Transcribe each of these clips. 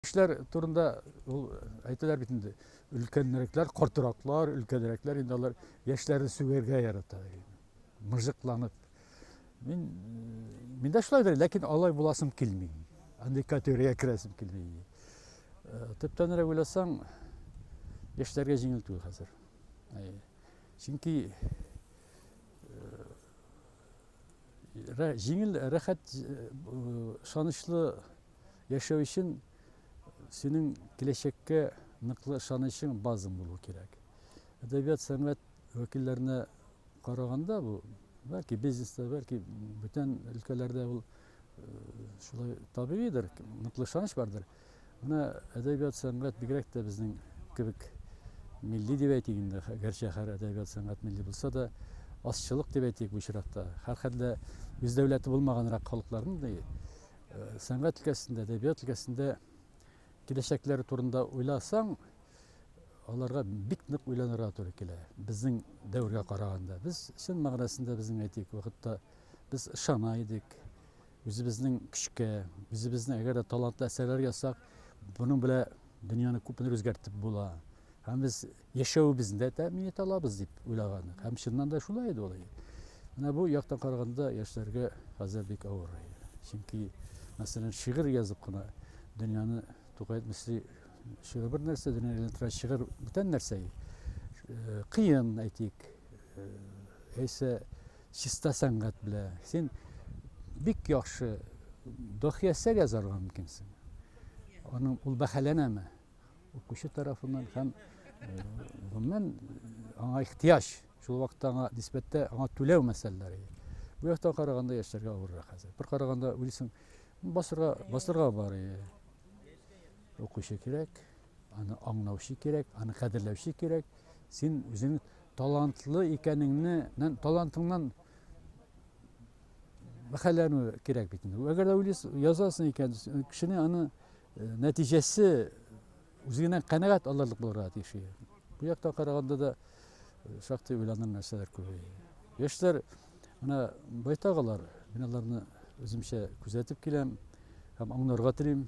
Кешеләр турында ул әйтәләр бит инде, өлкәннәрекләр, картыраклар, өлкәнрәкләр инде алар яшьләрне сүгәргә ярата. Мыжыкланып. Мин мин дә шулайдыр, ләкин алай буласым килми. Андый категориягә керәсем килми. Э, төптәнрәк уйласаң, яшьләргә җиңел түгел хәзер. Чөнки э, җиңел, рәхәт, э, ышанычлы Яшәү өчен синең киләчәккә ныклы ышанычың базың булу кирәк. Әдәбият, сәнгать вәкилләренә караганда бу, бәлки бизнеста, бәлки бүтән өлкәләрдә ул шулай табигыйдыр, ныклы ышаныч бардыр. Менә әдәбият, сәнгать бигрәк тә безнең кебек милли дип әйтик инде, гәрчә һәр әдәбият сәнгать милли булса да, азчылык дип әйтик бу очракта. Һәрхәлдә үз дәүләте булмаганрак халыкларның Сәнгать өлкәсендә, әдәбият өлкәсендә киләчәкләре турында уйласаң, аларга бик нык уйланырга туры килә. Безнең дәвергә караганда, без чын мәгънәсендә безнең әйтик, вакытта без ышана идек үзебезнең көчкә, үзебезнең әгәр дә талантлы әсәрләр ясак, буның белән дөньяны күпме үзгәртеп була. Һәм без яшәвебезне дә тәэмин итә алабыз дип уйлаган идек. Һәм чыннан да шулай иде ул. Менә бу яктан караганда яшьләргә хәзер бик авыр. Чөнки, мәсәлән, шигырь язып кына дөньяны Тукай мисли шигырь бер нәрсә, дөньяны әйләндерә шигырь бүтән нәрсә. Э, кыен, әйтик, э, яисә чиста сәнгать белә. Син бик яхшы дохи әсәр язарга мөмкинсең. Аның ул бәһаләнәме? укучы тарафыннан һәм гомумән аңа ихтыяҗ, шул вакытта аңа нисбәттә аңа түләү мәсьәләләре. Бу яктан караганда яшьләргә авыррак хәзер. Бер караганда уйлыйсың, басырга, басырга бар. Укучы кирәк, аны аңлаучы кирәк, аны кадерләүче кирәк. Син үзең талантлы икәнеңне, талантыңнан мәхәлләнү кирәк бит инде. Әгәр дә уйлыйсың, язасың икән, кешене аны Нәтиҗәсе үзе генә канәгать алырлык булырга тиеш. Бу яктан караганда да шактый уйланыр нәрсәләр күп. Яшьләр менә байтак алар, мин аларны үземчә күзәтеп киләм һәм аңларга телим.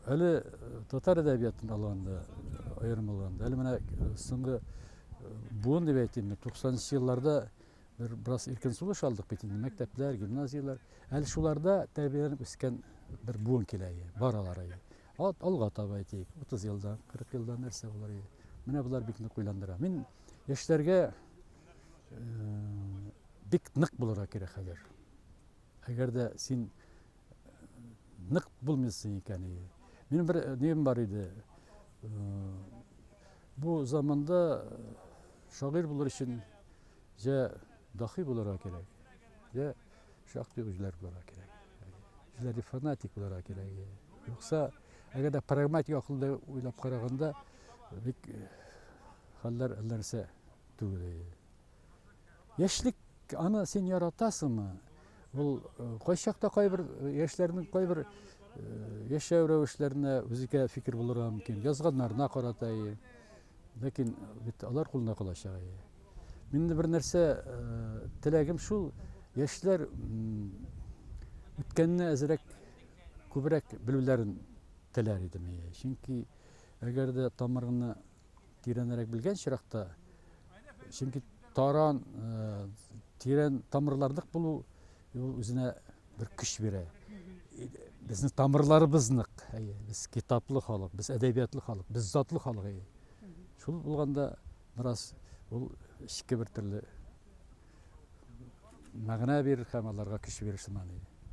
Әле татар әдәбиятын алганда, аерым алганда, әле менә соңгы буын дип әйтим, 90 нчы елларда Бер бераз иркен сулыш алдык бит инде, мәктәпләр, гимназияләр. Әле шуларда тәрбияләнеп үскән бер буын килә ие, баралар ие. Ат алга таба әйтик, 30 елда, 40 елда нәрсә булыр ие. Менә болар бик нык уйландыра. Мин яшьләргә э, бик нык булырга кирәк хәзер. Әгәр дә син э, нык булмыйсың икән ие. Минем бер э, нем бар иде. Э, бу заманда э, шагыйрь булыр өчен Җә дахи булырга кирәк, җә шактый үзләр булырга кирәк. Үзләре фанатик булырга кирәк. Юкса, әгәр дә прагматик акылда уйлап караганда, бик э, хәлләр әлләрсә түгел. Яшьлек аны син яратасыңмы? Ул э, кайчакта кайбер э, яшьләрнең кайбер яшәү рәвешләренә үзекә фикер булырга мөмкин. Язганнарына карата, Ләкин бит алар кулында калачак. Мин бер нәрсә теләгем шул, яшьләр үткәнне әзрәк күбрәк белүләрен теләр идем. Чөнки әгәр дә тамырны тирәнрәк белгән чиракта, чөнки таран тирән тамырларлык булу Ул үзенә бер көч бирә. Безнең тамырларыбыз нык. Без китаплы халык, без әдәбиятлы халык, без затлы халык. Шул булганда бераз ул эчке бер төрле мәгънә бирер һәм аларга көч бирер шуннан.